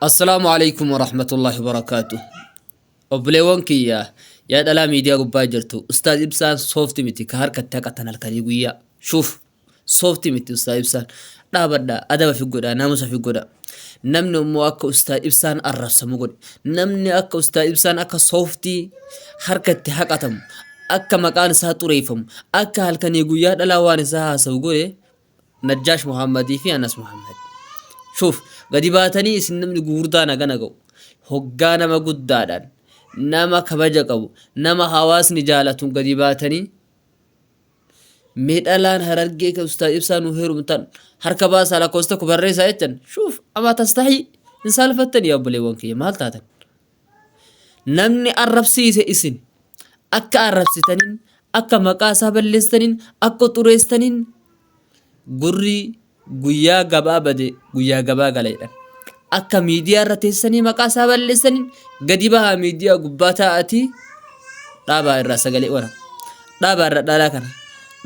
Assalaamu alaikum warahmatullahi wabarakaatu. Obboleewwan kiyya yaa dhalaa miidiyaa gubbaa jirtu ustaaz ibsaan soofti miti ka harkatti haqatan halkanii guyyaa. Shuuf soofti miti ustaaz ibsaan dhaabadha adaba fi godha naamusa fi godha. Namni immoo akka ustaaz ibsaan arrabsamu godhe. Namni akka ustaaz ibsaan akka soofti harkatti haqatamu akka maqaan isaa xureeffamu akka halkanii guyyaa dhalaa waan isaa haasawu godhe Najjaash Muhammad fi Anas Muhammad. Shuuf, gadi baatanii isin namni gugurdaan hagana ga'u. Hoggaa nama guddaadhaan, nama kabaja qabu, nama hawaasni jaalatuun gadi baatanii mee dhalaan harargee ka ustaaz ibsaa nu heerumtan harka baasaa lakkoofsa tokko barreessaa jechan shuuf amaa tastahii hin saalfattanii yaa obboleewwan kiyya maal taatan namni arrabsiise isin akka arrabsitaniin akka maqaa isaa balleessitaniin akka xureessitaniin gurri guyyaa gabaa bade guyyaa gabaa gala jedhan akka miidiyaa irra teessanii maqaa isaa balleessaniin gadi bahaa miidiyaa gubbaa taa'atii dhaabaa irraa sagalee wara dhaabaa irra dhaalaa kana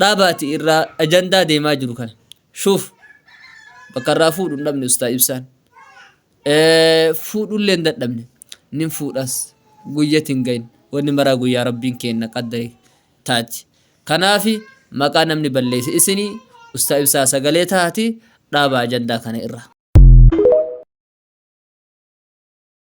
dhaabaati irraa ajandaa deemaa jiru kana shuuf bakka irraa fuudhu hin dhabne ustaa ibsaan fuudhullee hin dadhabne nin fuudhas guyyatti hin gahin wanni maraa guyyaa rabbiin keenna qaddare taati kanaafi maqaa namni balleeyse isini ustaa ibsaa sagalee taati dhaaba ajandaa kana irra.